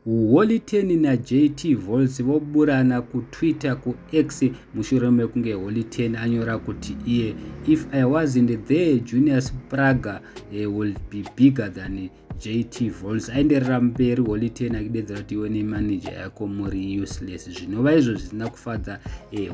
Holy Ten naJT Volts voburana kuTwitter kuX mushure mekunge Holy Ten anyora kuti iye if I wasn't there Junius Praga eh, will be bigger than jt vols aenderera mberi holiten akidedzera kuti iwe nemanaja yako muri useless zvinova izvo zvisina kufadza eh,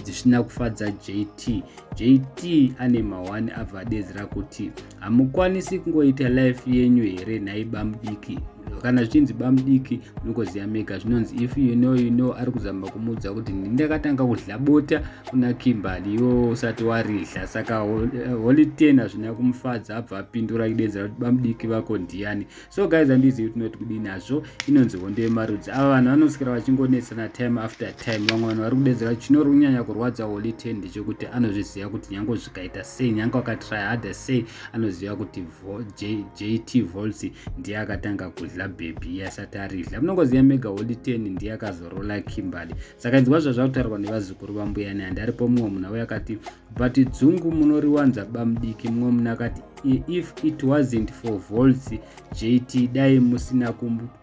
zvisina kufadza jt jt ane mahwani abva adedzera kuti hamukwanisi kungoita life yenyu here nhaiba mudiki kana zvichinzi bamudiki munokoziya mega zvinonzi if you know you know ari kuzama kumuudza kuti ndakatanga kudya bota kuna kimbali iwo usati waridya saka eh, holy ten hazvina kumufadza abva apindura kudedzera kuti bamudiki vako ndiyani so guys handizivi tinoti kudii nazvo inonzi hondo yemarudzi ava vanhu vanosikira vachingonetsana time after time vamwe vanhu vari kudedzera kuti chinori kunyanya kurwadza holy ten ndechekuti anozviziva kuti nyange zvikaita sei nyange wakatrya hada sei anoziva kuti vo, J, jt volts ndiye akatanga kudla bhebhi asati aridla munongoziva mega holiten ndiye akazorola kimberly saka inzwa zvazvakutaurwa nevazukuru vambuya ne handi aripo mumwe munhu auya akati but dzungu munoriwanza bamudiki mumwe munhu akati if it wasn't for volts jt dai musina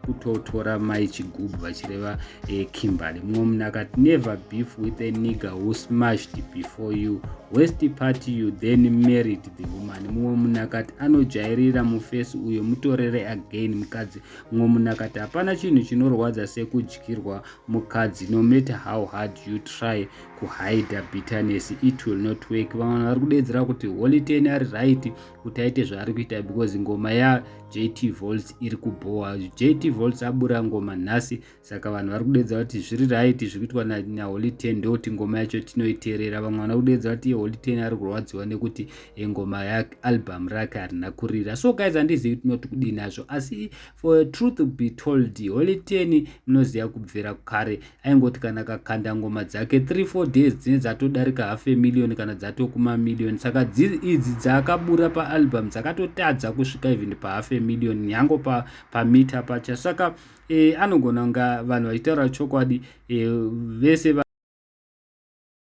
kutotora mai chigubhu vachireva eh, kimberly mumwe munhu akati never beef with a nigger who smashed before you west party you then married the woman mumwe munhu akati anojairira mufesi uyo mutorere again mukadzi mumwe munhu akati hapana chinhu chinorwadza sekudyirwa mukadzi no matter how hard you try kuhida bitterness it will not work vamwe vanhu vari kudedzera kuti holiteni ari right kuti aite zvaari kuita because ngoma yajt volts iri kubhowa jt volts abura ngoma nhasi saka vanhu vari kudeedza kuti zviri right zviri kuitwa naholy ten ndokuti ngoma yacho tinoiterera vamwe vana kudeedza kuti holy ten ari kurwadziwa nekuti eh, ngoma yaalbum rake harina kurira so guys handizivi tinoti kudii nazvo asi for truth be told holy ten munoziva kubvira kare aingoti kana kakanda ngoma dzake 34 days dzine dzatodarika half a million kana dzatokuma million saka idzi dzaakabura paalbum dzakatotadza kusvika even pahalf a million nyango pamita pa pacha saka e, anogona kunga vanhu vachitaura chokwadi e, vese va